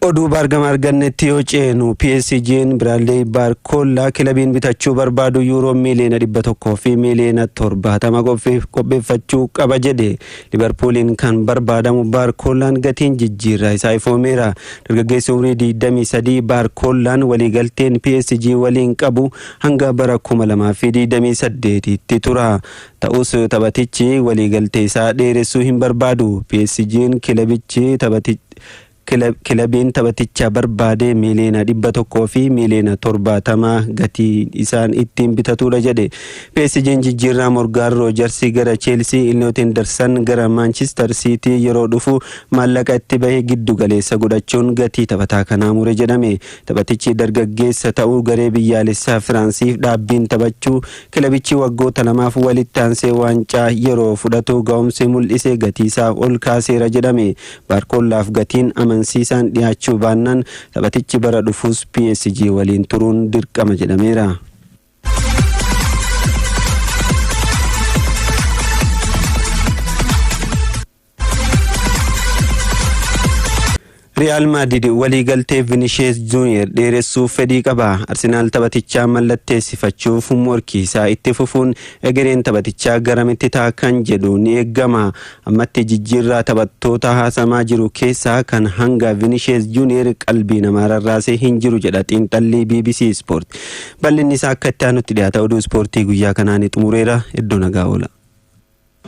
Oduu baargama argannetti yoo ceenu PSG'n Biraadley Baarkoollaa kilabiin bitachuu barbaadu yuuroo miiliyoona dhibba tokkoo fi miiliyoona torbaatama qopheeffachuu qaba jedhe. Liverpooliin kan barbaadamu Baarkoollaan gatiin jijjiirraa isaa ifoomeera. Dargaggeessi umrii 23 Baarkoollaan waliigalteen PSG waliin qabu hanga bara 2028tti tura. Ta'us taphatichi waliigaltee isaa dheeressuu hin barbaadu. PSG'n kilabichi kilabiin taphaticha barbaade miiliyoona dhibba tokkoo fi miiliyoona torbaatama gatiin isaan ittiin bitatudha jedhe. PSG'n jijjiirraa Morgaan Roojarsi gara Cheelsii, Ilnoot Hendersan gara Maanchister Siitii yeroo dhufu maallaqa itti bahe giddu galeessa godhachuun gatii taphataa kanaa mure jedhame. Taphatichi dargaggeessa ta'uu garee biyyaalessaa Firaansiif dhaabbiin taphachuu Kilabichi waggoota lamaaf walitti aansee waancaa yeroo fudhatu ga'umsi mul'ise gatiisaa ol kaaseera jedhame. Baarkoollaaf gatiin amansiisaan dhiyaachuu baannaan taphatichi bara dhufus PSG waliin turuun dirqama jedhameera. Riyaal Maadrid waliigaltee Vinishees Juuniyer dheeressuuf fedhii qaba. Arsenaal taphatichaa mallatteessifachuuf morkii isaa itti fufuun egereen taphatichaa garamitti ta'a kan jedhu ni eegama. Ammatti jijjiirraa taphattoota haasamaa jiru keessaa kan hanga Vinishees Juuniyer qalbii namaa rarraasee hin jiru jedha xiinxallii BBC Sport. Bal'inni isaa akka itti aanutti dhiyaata. Oduu ispoortii guyyaa kanaa ni xumureera. Iddoo nagaa oola.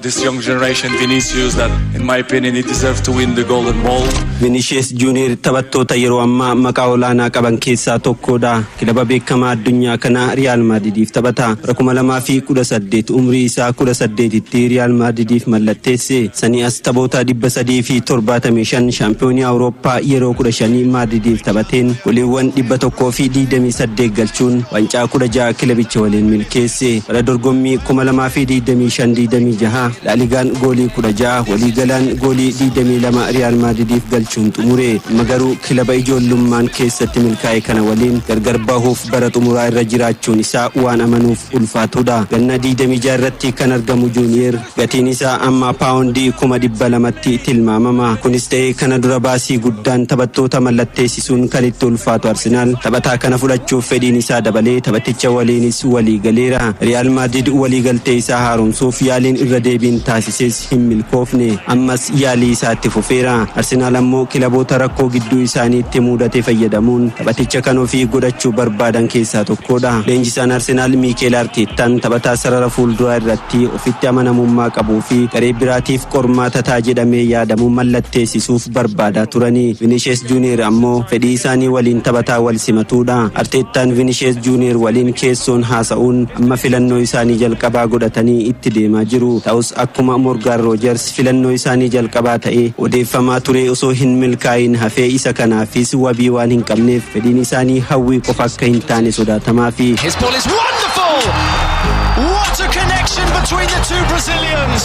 This young generation Vinicius that in my opinion he deserves to win the golden ball. Vinicius Junior taphattoota yeroo ammaa maqaa olaanaa qaban keessaa tokkodha. Kilaba beekamaa addunyaa kanaa Riyaal Maadidiif taphata. Bara 2018 umrii isaa 18tti Riyaal Maadidiif mallatteesse. Sanii as taphoota 375 shaampiyoonii Awurooppaa yeroo 15 Maadidiif taphateen goliiwwan 128 galchuun wancaa 16 kilabicha waliin milkeesse. Bara dorgommii 2025 26 Laaligaan goolii 16 waliigalaan goolii 22 Riyaal Maadridiif galchuun xumure. Amma garuu kilaba ijoollummaan keessatti milkaa'e kana waliin gargar bahuuf bara xumuraa irra jiraachuun isaa waan amanuuf ulfaatudha. Ganna 26 irratti kan argamu Juuniyeer, Gatiin isaa amma paawondii kuma 200tti tilmaamama. Kunis ta'ee kana dura baasii guddaan taphattoota mallatteessisuun kan itti ulfaatu Arsenaal taphataa kana fudhachuuf fedhiin isaa dabalee taphaticha waliinis walii galeera. Riyaal Maadrid walii galtee isaa haaromsuuf yaaliin irra deebiin taasises hin milkoofne. Ammas yaalii isaa itti fufeera. Arsenaal ammoo kilaboota rakkoo gidduu isaaniitti muudate fayyadamuun taphaticha kan ofii godhachuu barbaadan keessaa tokkoodha. Leenjisaan Arsenaal Miikeel Arteettaan taphataa sarara fuulduraa irratti ofitti amanamummaa qabuu fi garee biraatiif qormaata ta'a jedhamee yaadamu mallatteessisuuf barbaadaa turani. Vinishees Juuniyeer ammoo fedhii isaanii waliin taphataa wal simatuudha. Arteettaan Vinishees Juuniyeer waliin keessoon haasa'uun amma filannoo isaanii jalqabaa godhatanii itti deemaa jiru. Ta'us akkuma Morgaan Roojers, filannoo isaanii jalqabaa ta'ee odeeffamaa turee osoo hin milkaa'iin hafee isa kanaafis wabii waan hin qabneef fedhiin isaanii hawwii qofa akka hin taane sodaatamaafi. His ball is wonderful! What a connection between the two Brazilians!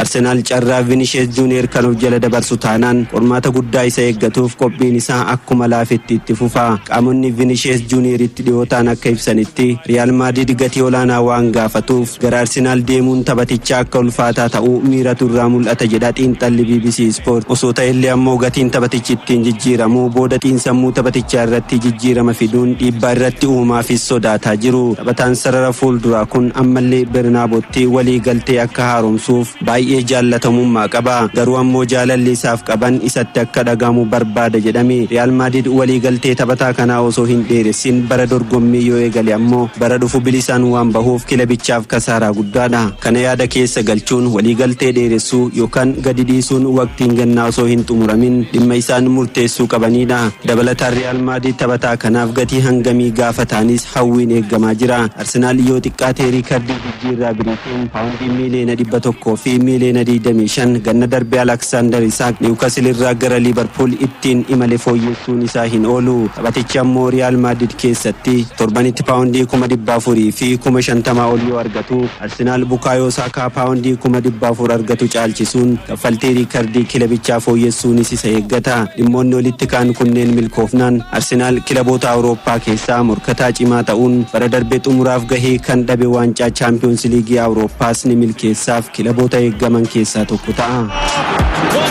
Arsenaal carraa Vinishees Juuniyeer kan of jala dabarsu taanaan qormaata guddaa isa eeggatuuf qophiin isaa akkuma laafetti itti fufa. Qaamonni Vinishees Juuniyeeritti Dhiyootaan akka ibsanitti, Riyaal Maadriid gatii olaanaa waan gaafatuuf gara Arsenaal deemuun taphatichaa akka ulfaataa ta'u miiratu irraa mul'ata jedha xiinxalli bbc Sport. Osoo ta'ellee ammoo gatiin taphatichi ittiin jijjiiramu booda xiinsammuu taphatichaa irratti jijjiirama fiduun dhiibbaa irratti uumaafis sodaataa jiru. Taphataan sarara fuulduraa kun ammallee Bernaabootti waliigaltee akka haaromsuuf. Baay'ee jaallatamummaa qaba. Garuu ammoo jaalalli isaaf qaban isatti akka dhaga'amu barbaada jedhame. Riyaal Maadrid waliigaltee taphataa kanaa osoo hin dheeressin bara dorgommii yoo eegale ammoo bara dhufu bilisaan waan bahuuf kilabichaaf kasaaraa guddaadha. Kana yaada keessa galchuun waliigaltee dheeressuu yookaan gadi dhiisuun waqtiin gannaa osoo hin xumuramin dhimma isaan murteessuu qabaniidha. Dabalataan Riyaal Maadrid taphataa kanaaf gatii hangamii gaafataanis hawwiin eegamaa jira. Arsenaal yoo xiqqaate riikardii jijjiirraa birii. Kiin paawundii miiliyoona 100 fi miiliyoona 25 ganna darbe Alaksaandar Isaak Niwukasil irraa gara Liivarpuul ittiin imale fooyyessuun isaa hin oolu. Taphatichi ammoo Riyaal Maadrid keessatti torbanitti paawundii kuma 400 fi kuma 50 ol yoo argatu, Arsenaal Bukaayoo Saakaa paawundii kuma 400 argatu caalchisuun Kaffaltii riikardii kilebichaa fooyyessuunis isa eeggata. Dhimmoonni olitti ka'an kunneen milkoofnaan Arsenaal kilaboota Awurooppaa keessaa morkataa cimaa ta'uun bara darbe xumuraaf gahee kan dhabe waancaa Chaampiyoonsi Liigii Awurooppaas ni milkeessaaf kilaboota eeggaman keessaa tokko ta'a.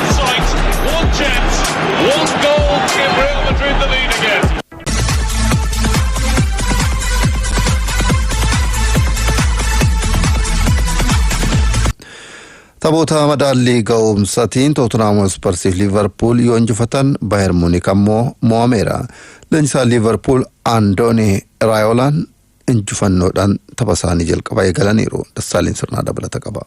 Taphoota madaallii ga'umsatiin Tootenhaam Hotspursiif Liivarpuul yoo injifatan Baayer Muunik ammoo mo'ameera. Leenjisaan Liivarpuul Andoonii Raayoolaan injifannoodhaan tapha isaanii jalqaba eegalaniiru. Dassaaleen sirnaa dabalata qaba.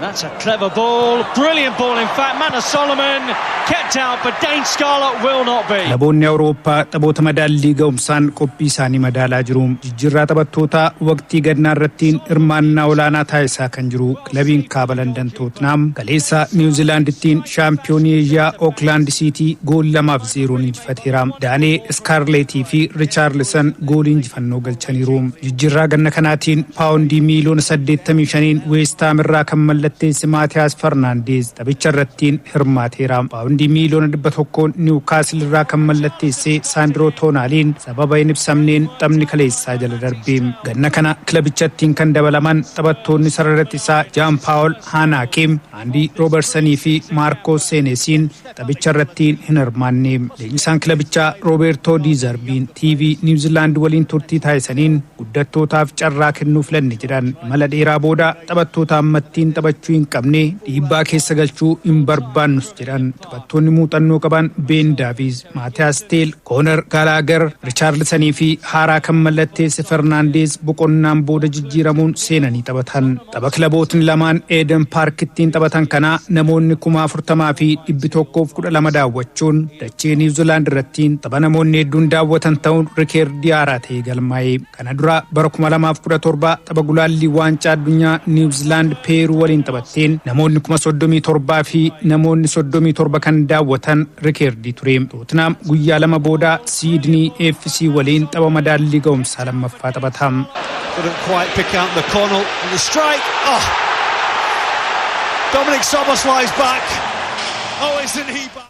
That's a clever ball, brilliant ball in fact. Manor Solomon kept out, but Dane Scarlett will not be. Kilaboonni Awurooppaa taphoota madaallii ga'umsaan qophii isaanii madaalaa jiru. Jirraa taphattootaa waqtii gannaarrattiin hirmaannaa olaanaa taasisaa kan jiru kilabiin Kaaba Landan Tootnaam kaleessa Niiw Ziilaandittiin shaampiyoonii Eeshiyaa Ooklaand Siitii gool 2 fi 0n injifateera. Daanee Iskaarleetii fi Richaarlisan goolii injifannoo galchaniiru. Jijjiirraa ganna kanaatiin paawondii miiliyoona 85n Weesthaam irraa kan mallatteesse Maatiyaas Farnaandeez taphicharrattiin hirmaateera. Paawondii miiliyoona 100n Niiwkaasil irraa kan mallatteesse Saandiroo Toonaaliin Sababa hin ibsamneen taphni kaleessaa jala darbe. Ganna kana kilabichattiin kan dabalaman taphattoonni sarara ittisaa Jaan Paawol Haanaakee, Aandii Roobersanii fi Maarkoo Seenesiin taphicha irratti hin hirmaanne. Leenjisaan kilabichaa Roobeertoo Dii Zarbiin TV Niiw Ziilaand waliin turtii taasisaniin guddattootaaf carraa kennuu filanne jedhan. Imala dheeraa booda taphattoota ammattiin taphachuu hin qabne dhiibbaa keessa galchuu hin barbaannus jedhan. Taphattoonni muuxannoo qabaan Been Daaviiz, Maatiyaas Teel, Koonar Gaalaagar, Richaarlisanii fi haaraa kan mallatteesse Fernaandeez boqonnaan booda jijjiiramuun seenanii taphatan. Tapha kilabootni lamaan Eeden Paarkittiin taphatan kanaa namoonni kuma afurtamaa fi dhibbi tokkoof kudha lama daawwachuun dachee Niiwzilaand irrattiin tapha namoonni hedduun daawwatan ta'uun rikeerdii haaraa ta'ee galmaa'e. Kana dura bara 2017 tapha gulaallii waancaa addunyaa Niiw Ziilaand Peeruu waliin taphatteen namoonni 37,000 fi namoonni 37 kan daawwatan rikeerdii ture. Tootinaam guyyaa lama booda Siidnii FC waliin tapha madaallii ga'umsaa lammaffaa taphata. Couldn't quite pick out McConnell. And the strike. Oh! Dominic Soboslai's back. Oh, isn't he back?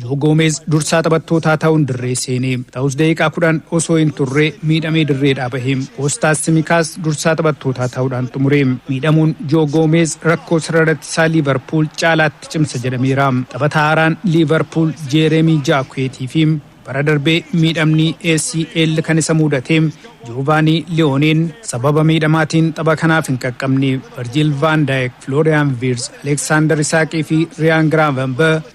Joo Goomeez dursaa taphattootaa ta'uun dirree seene. Ta'us daqiiqaa 10 osoo hin turre miidhamee dirreedhaa bahe. Koostaas Simikaas dursaa taphattootaa ta'uudhaan xumure. Miidhamuun Joo Goomeez rakkoo sarara tisaa Liivarpuul caalaatti cimsa jedhameera. Taphataa haaraan Liivarpuul Jeereemii Jaakuweetii fi bara darbe miidhamni ACL kan isa muudate Joovaanii Liyooneen sababa miidhamaatiin tapha kanaaf hin qaqqabne. Virjiil Vaan Daayik, Filooriyaan Viirz, Aleeksaandar Isaaqii fi Riyaan Giraavambah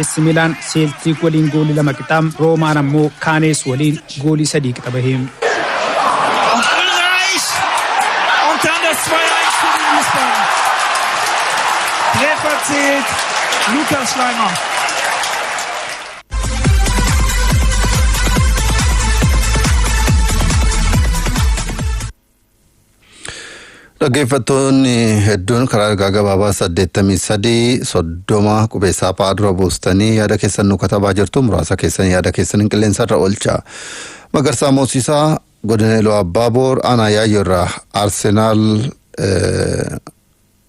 AC Milaan Seeltiik waliin goolii lama qixa, Roomaan ammoo Kaanees waliin goolii sadii qixa bahe. Dhaggeeffattoonni hedduun karaa ergaa gabaabaa 83 30 qubeessaa fa'aa dura buustanii yaada keessan nu katabaa jirtu muraasa keessan yaada keessan hin qilleensarra oolcha. Magarsaa Moosisaa godina Iluu Abbaa Boor aanaa Yaayyoo irraa Arsenaal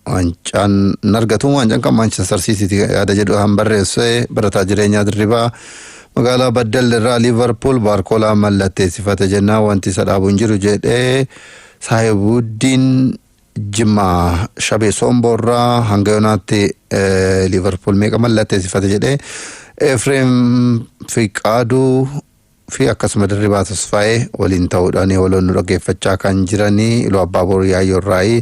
Waancaan nargatu waancaan kan Maanchestar Siitiiti yaada jedhu kan barreesse barataa jireenyaa dirribaa magaalaa Baddal irraa Liivarpuul Baarkoolaa mallatteessifate jennaa wanti isa dhaabu hin jiru jedhee Saahibuuddiin Jimmaa Shabee Soomboorraa hanga yoonaatti Liivarpuul meeqa mallatteessifate jedhee Efreem Fiqaaduu fi akkasuma Dirribaa Tasfaayee waliin ta'uudhaan waloon nu dhaggeeffachaa kan jiranii Iluu Abbaaboor Yaayyoo Irraayii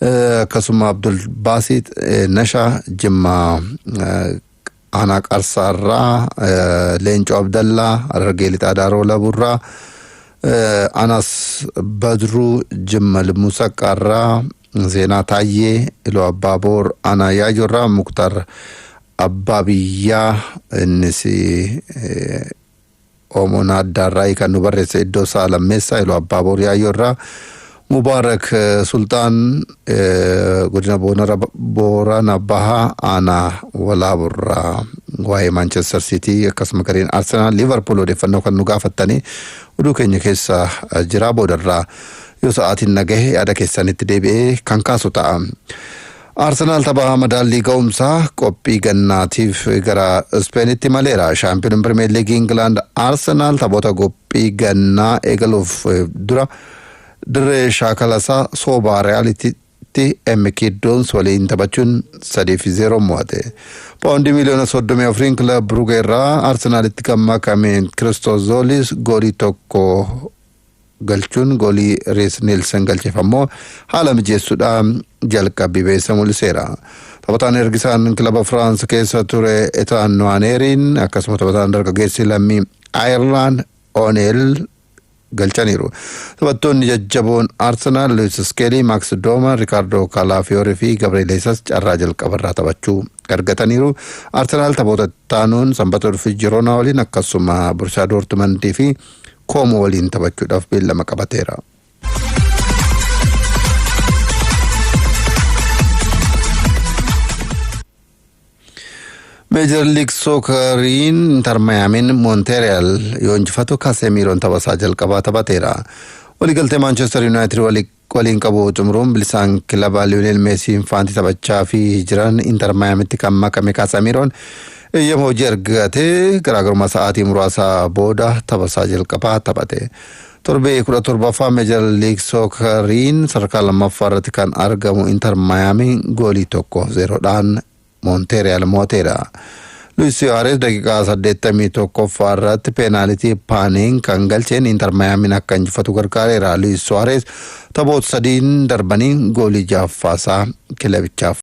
eh, akkasuma Abdul Baasiit eh, Nashaa Jimmaa eh, Aanaa Qarsaa irraa eh, Leencoo Abdallaa Harargee Lixaa Daaroo Laburraa eh, Anas Badruu Jimma Limmuu Saqqaarraa Zeenaa Taayyee Iluu Abbaaboor Aanaa Yaayyoo irraa Muktar Abbaa biyyaa innis Oomoon Addaarraa kan nu barreesse iddoo isaa lammeessaa Iluu Abbaa Boor Yaayyoo irraa Mubaarak Sulxaan godina Boorana Bahaa aanaa Walaaburraa waa'ee Maanchestar Siitii akkasuma gareen Arsenaal Liivarpuul odeeffannoo kan nu gaafattanii oduu keenya keessa jiraa boodarraa yoo sa'aatiin nagahe yaada keessanitti deebi'ee kan kaasu ta'a. Arsenaal tapha madaallii ga'umsaa qophii gannaatiif gara Ispeenitti maleera. Shaampiyooniin Pirimeer Liigii Ingilaand Arsenaal taphoota qophii gannaa eegaluuf dura dirree shaakalasaa soobaa Riyaalitti MK Dons waliin taphachuun 3 fi 0 mo'ate. Paawundii miliyoona 34n kilab Brugee irraa Arsenaalitti kan makame Kiristoos Zoolis goolii tokko galchuun goolii Rees Neelsan galcheef ammoo haala mijeessuudha jalqabbii beessa mul'iseera. Taphataan ergisaan kilaba Firaans keessa ture Etaan Nuwaaneeriin akkasuma taphataan dargaggeessi lammii Ayerlaan Oneel galchaniiru. Taphattoonni jajjaboon Arsenaal Luwis Iskeelii, Maaks Dooma, Rikaardoo Kaalaafiyoor fi Gabriel Heesas carraa jalqabarraa taphachuu argataniiru. Arsenaal taphoota ittaanuun Sanbata dhufu Jiroonaa waliin akkasuma Burshaa Doortumandii fi Koomoo waliin taphachuudhaaf beellama qabateera. Meejar Liig Sookariin Intar Mayaamiin Moonteeriyaal yoo injifatu Kaasemiiroon taphasaa jalqabaa taphateera. Waliigaltee Maanchestar Yuunaayitid waliin Goliin qabu xumuruun bilisaan kilaba Liyoneel Meesiin faanti taphachaafi jiran Inter Maayamitti kan makame Kaasamiiroon eeyyama hojii argate garaagarummaa sa'aatii muraasa booda taphasaa jalqabaa taphate. Torbee 17ffaa Meejar Liig Sookariin sadarkaa lammaffaa irratti kan argamu Inter Maayaamiin goolii tokko zeeroodhaan Moonteeriyaal mooteera. Luis Suarez daqiiqaa 81ffaa irratti peenaalitii Paaniin kan galcheen Inter Mayaamiin akka injifatu gargaareera. Luis Suarez taphoota sadiin darbanii goolii jaaffaasaa kilabichaaf